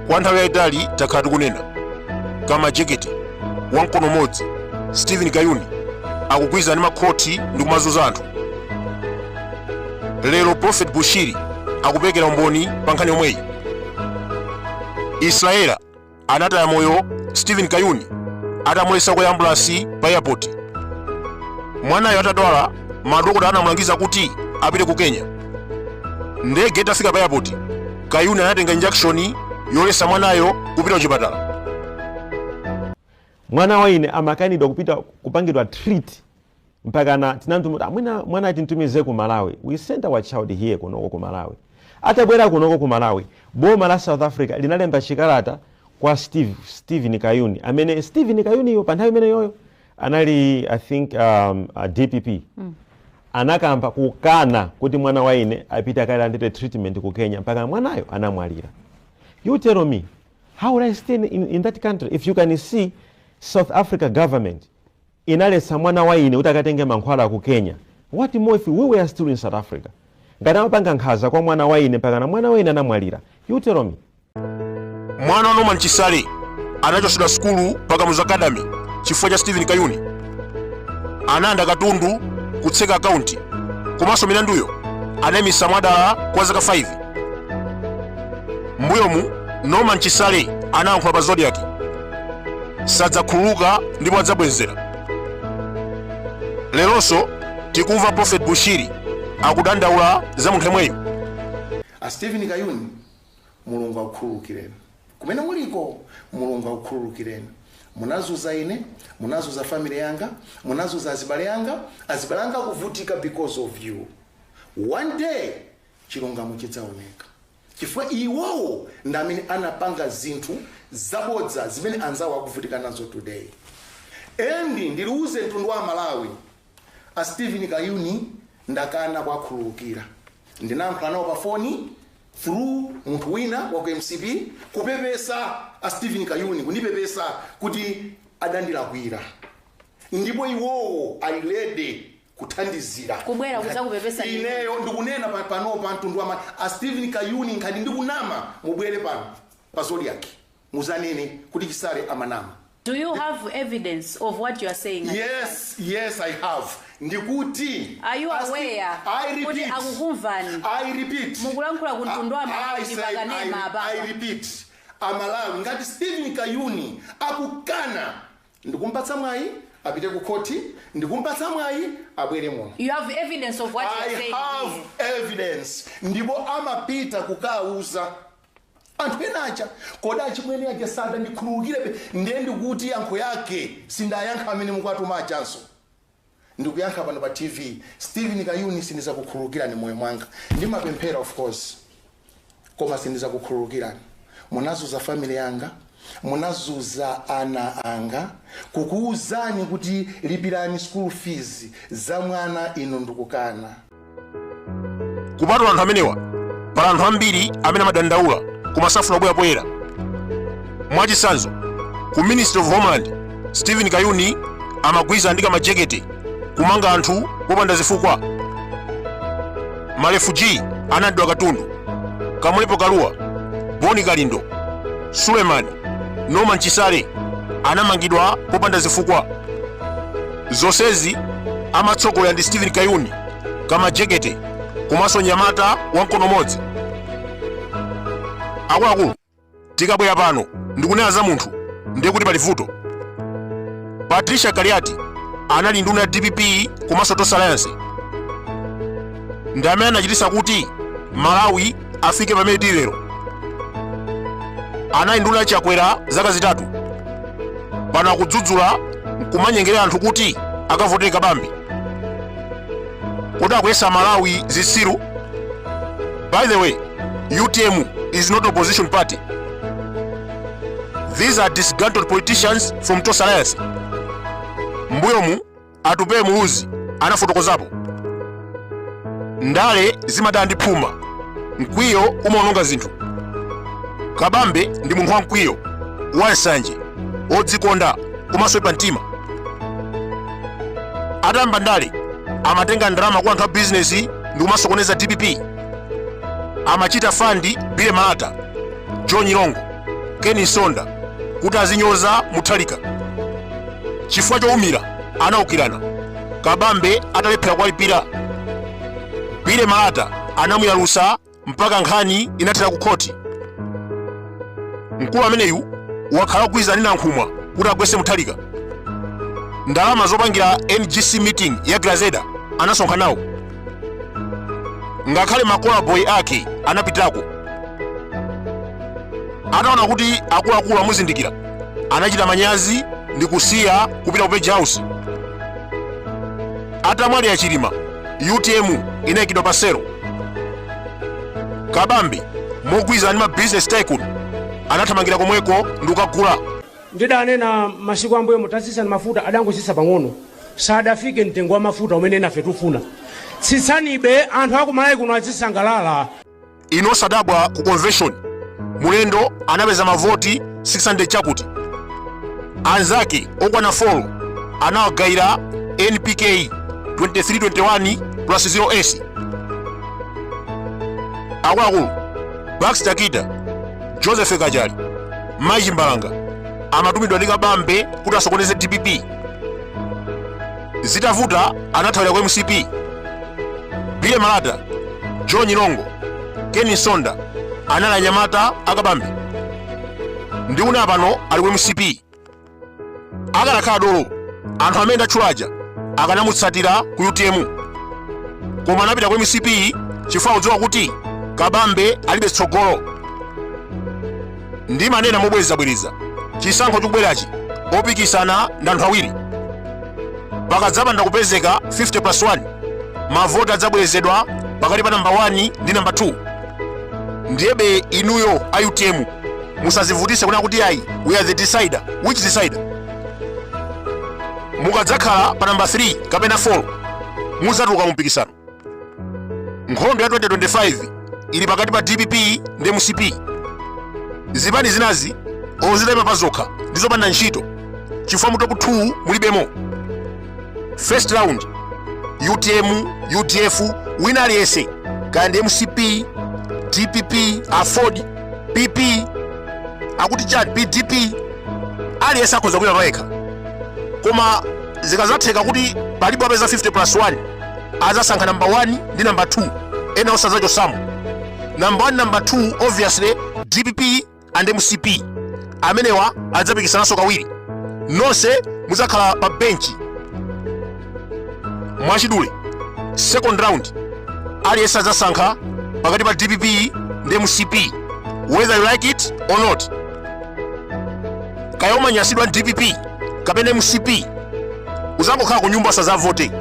kwa nthawi yayitali takhala tikunena ka majekete wamkono umodzi stephen kayuni akugwirizana ndi makhoti ndi kumazunza anthu lero prophet bushiri akuperekera umboni pa nkhani yomweyi israela anataya moyo stephen kayuni atamulesa kukwera ambulansi pa airport mwanayo atadwala madokotala anamulangiza kuti apite ku kenya ndege itafika pa airport kayuni anatenga injakishoni yolesa mwanayo kupita kuchipatala mwana wa ine amakanidwa kupita kupangidwa treat mpakana tinamtu mu tinati mwina mwana timtumize ku malawi we sent our child here kunoko ku malawi atabwera kunoko ku malawi boma la south africa linalemba chikalata kwa steve steven kayuni amene steven kayuniyo pa nthawi imeneyoyo anali i think um, a dpp mm. anakamba kukana kuti mwana wa ine apite akalandire treatment ku kenya mpaka mwanayo anamwalira you tell me how would i stay in, in that country if you can see south africa government inaletsa mwana wa ine kuti akatenge mankhwala ku Kenya what more if we were still in South Africa? Ngati amapanga nkhaza kwa mwana wa ine mpakana mwana wa ine anamwalira you tell me. Mwana wa Norman Chisale anachotsedwa sukulu pa Kamuzu Academy chifukwa cha Stephen Kayuni analanda katundu kutseka akaunti komanso milanduyo anayimisa mwadala kwa zaka 5 mbuyomu Norman Chisale anayankhula pa Zodiac sadzakhululuka ndipo adzabwezera leronso tikumva prophet bushiri akudandaula za munthu yemweyo a stephen kayuni mulungu akukhululukireni kumene muliko mulungu akukhululukireni munazuza ine munazuza family yanga munazuza azibale anga azibale anga akuvutika because of you one day chilungamo chidzaoneka chifukwa iwowo ndi amene anapanga zinthu zabodza zimene anzawo akuvutika nazo today and ndiwuze mtundu wa amalawi a steven kayuni ndakana kuwakhululukira ndinayankhula nawo pa foni through munthu wina wa ku mcp kupepesa a steven kayuni kundipepesa kuti adandilakwira ndipo iwowo ali ready kuthandizira Kubwera kudzakupepesani. ineyo ndikunena pano pa mtundu wama a stephen kayuni ngati ndikunama mubwere pano pa zodiac muzanene kuti chisale amanama Do you have evidence of what you are saying? yes yes i have ndikuti Are you Asti- aware I repeat. kuti akukumvani? I repeat Mukulankhula ku mtundu wa Malawi I ndi say- pakanema I- apapa. I repeat amalawi ngati stephen kayuni akukana Ndikumpatsa mwayi apite ku khoti. Ndikumpatsa mwayi abwere muno. You have evidence of what you are saying here? I have evidence. Ndipo amapita kukauza anthu ena aja. Kodi achimwene aja sadandikhululukirebe? Ndiye ndikuti yankho yake sindayankha amene mukuwatuma ajanso. ndikuyankha pano pa TV Steven Kayuni sindizakukhululukirani moyo mwanga ndimapemphera of course koma sindizakukhululukirani munazuza family yanga munazuza ana anga kukuuzani kuti lipirani school fees za mwana inu ndikukana. kupatula anthu amenewa pali anthu ambiri amene amadandaula koma safuna kubwera poyera mwachitsanzo ku ministry of homeland stephen kayuni amagwirizana ndi kamajekete kumanga anthu popanda zifukwa ma refugee analandidwa katundu kamlepo kaluwa boni kalindo suleman norman chisale anamangidwa popanda zifukwa Zonsezi amatsogolera ndi Steven Kayuni kamajekete komanso nyamata wa mkono umodzi. Akuluakulu tikabwera pano ndikunena za munthu ndiye kuti pali vuto. Patricia Kaliati anali nduna ya DPP komanso Tonse Alliance ndi amene anachititsa kuti Malawi afike pamene tili lero anali nduna ya chakwera zaka zitatu pano akudzudzula nkumanyengerera anthu kuti akavotere kabambe kodi akuyesa amalawi zitsiru by the way utm is not opposition party these are disgruntled politicians from tonse alliance mbuyomu Atupele Muluzi anafotokozapo. Ndale zimadana ndi phuma, mkwiyo umaononga zinthu. Kabambe ndi munthu wamkwiyo, wansanje, wodzikonda komanso oipa mtima. Atayamba ndale amatenga ndalama kwa anthu a bizinesi ndi kumasokoneza dpp. Amachita fandi Billy Malata, John Nyirongo. ken msonda kuti azinyoza mutharika chifukwa chowumira anawukirana kabambe atalephera kuwalipira billy malata anamuyalusa mpaka nkhani inathera ku khoti mkulu ameneyu wakhala akugwirizana ndi nankhumwa kuti agwetse mutharika ndalama zopangira ngc meeting ya grezelder anasonkha nawo ngakhale makola boyi ake anapitako ataona kuti akuluakulu amuzindikira anachita manyazi ndi kusiya kupita ku page house atamwalira chilima utm inayikidwa pa selo kabambi mogwirizana ndi ma business tycoon anathamangira komweko ndi kukagula ndidanena masiku ambuyo mutatsitsa mafuta adangotsitsa pang'ono sadafike mtengo wa mafuta umene inafe tufuna tsitsanibe anthu aku malawi kuno azisangalala inu osadabwa ku convention mulendo anapeza mavoti 600 chakuti anzake okwana 4 anawagayira npk 2321 plus 0s akuluakulu baxter kita joseph kachali machimbalanga amatumidwa ndi kabambe kuti asokoneze dpp zitavuta anathawira ku mcp bile malata john nyirongo keni msonda anali anyamata akabambe ndi una pano ali ku mcp akanakhala dolo anthu amene ndatchula aja akanamutsatira ku utm koma anapita ku mcp chifukwa akudziwa kuti kabambe alibe tsogolo ndimanena mobwerezabwereza chisankho chikubwerachi opikisana ndi anthu awiri pakadzapanda kupezeka 50 plus 1 mavoti adzabwerezedwa pakati pa namba 1 ndi namba 2 ndiyebe inuyo a utm musazivutise kunena kuti ayi we are the decider which decider mukadzakhala pa namba 3 kapena 4 mudzatuluka mu mpikisano nkhondo ya 2025 ili pakati pa dpp ndi mcp zipani zinazi zoimaima pa zokha ndi zopanda ntchito chifukwa mu top 2 mulibemo first round utm udf wina aliyense kaya ndi mcp dpp aford pp akuti chani pdp aliyense akhoza kuima payekha koma zikazatheka kuti palibe wapeza 50 plus 1 azasankha namba 1 ndi namba 2 ena onse adzachotsamo namba 1 namba 2 obviously dpp and mcp amenewa adzapikisananso kawiri nonse muzakhala pa benchi mwachidule second round aliyense azasankha pakati pa dpp ndi mcp whether you like it or not kaya umanyasidwa ndi dpp kapena mcp uzangokhala ku nyumba usazavote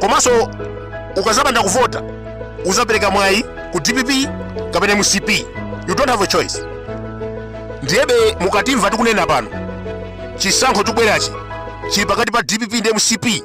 komanso ukazapanda kuvota uzapereka mwayi ku dpp kapena mcp you don't have a choice ndiyebe mukatimva tikunena pano chisankho chikubwerachi chili pakati pa dpp ndi mcp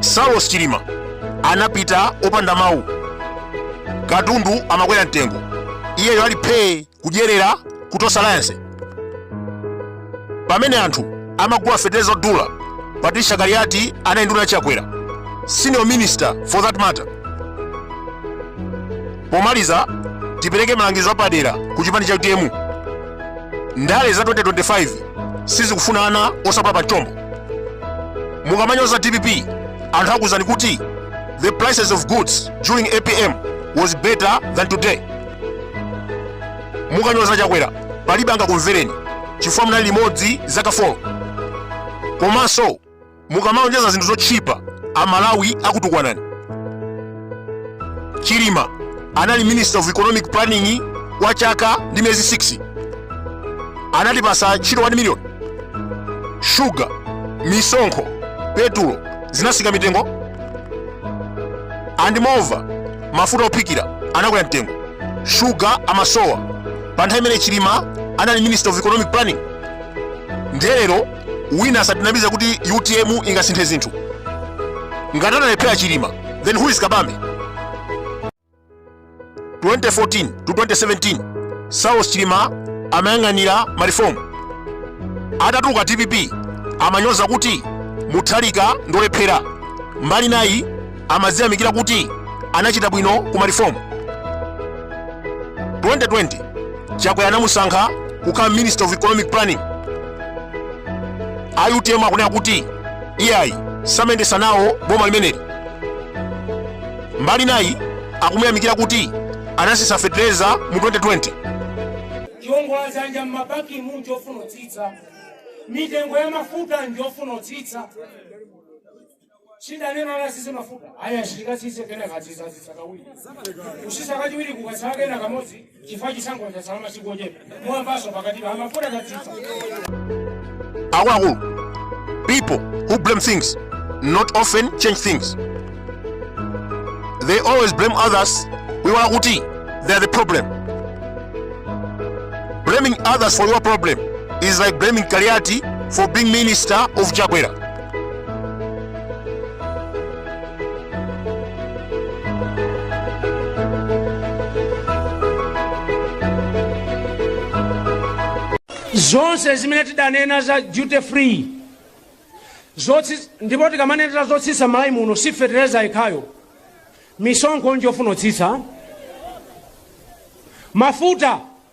saulos chilima anapita opanda mawu katundu amakwera mtengo iyeyo ali phee kudyerera kutosa alliance pamene anthu amagula feteleza odula patricia kaliati anali nduna chakwera senior minister for that matter pomaliza tipereke malangizo apadera ku chipani cha utm ndale za 2025 sizikufuna ana osapola pamchombo mukamanyoza dpp anthu akuuzani kuti the prices of goods during apm was better than today mukanyoza chakwera palibe angakumvereni chifukwa munali limodzi zaka 4 komanso mukamalonjeza zinthu zotchipa amalawi akutukwanani chilima anali minister of economic planning kwa chaka ndi miyezi 6 anatipasa ntchito 1 million shuga misonkho petulo zinatsika mitengo and moreover mafuta ophikira anakwera mtengo shuga amasowa pa nthawi imene chilima anali minister of economic planning nde lero wina asatinamize kuti utm ingasinthe zinthu ngati analephera chilima then who is kabambe 2014 to 2017 saulos chilima amayang'anira ma reform atatuluka dpp amanyoza kuti mutharika ndolephera mbali nayi amadziyamikira kuti anachita bwino ku ma reform 2020 chakwera anamusankha kukhala minister of economic planning a utm akunena kuti iyayi samayendesa nawo boma limeneli mbali nayi akumuyamikira kuti anatsitsa fetereza mu 2020 chiongola dzanja m'mabankimu n'chofuna kutsitsa mitengo ya mafuta njofuna kutsitsa sidanena ala atsitse mafuta aya asirikasise kena katsisa atsitsa kawiri kutsitsa kachiwiri kukatsala kena kamodzi chifukwa chisankho chatsala masiku ochepa mwambaso pakati pa mafuta katsisa Akuluakulu, people who blame things not often change things. They always blame others. Mwina kuti they are the problem. Blaming others for your problem is like blaming Kaliati for being minister of Chakwera. zonse zimene tidanena za duty free zotsi ndipo tikamanenera zotsitsa malawi muno si fetereza yekhayo misonkho njofuna kutsitsa mafuta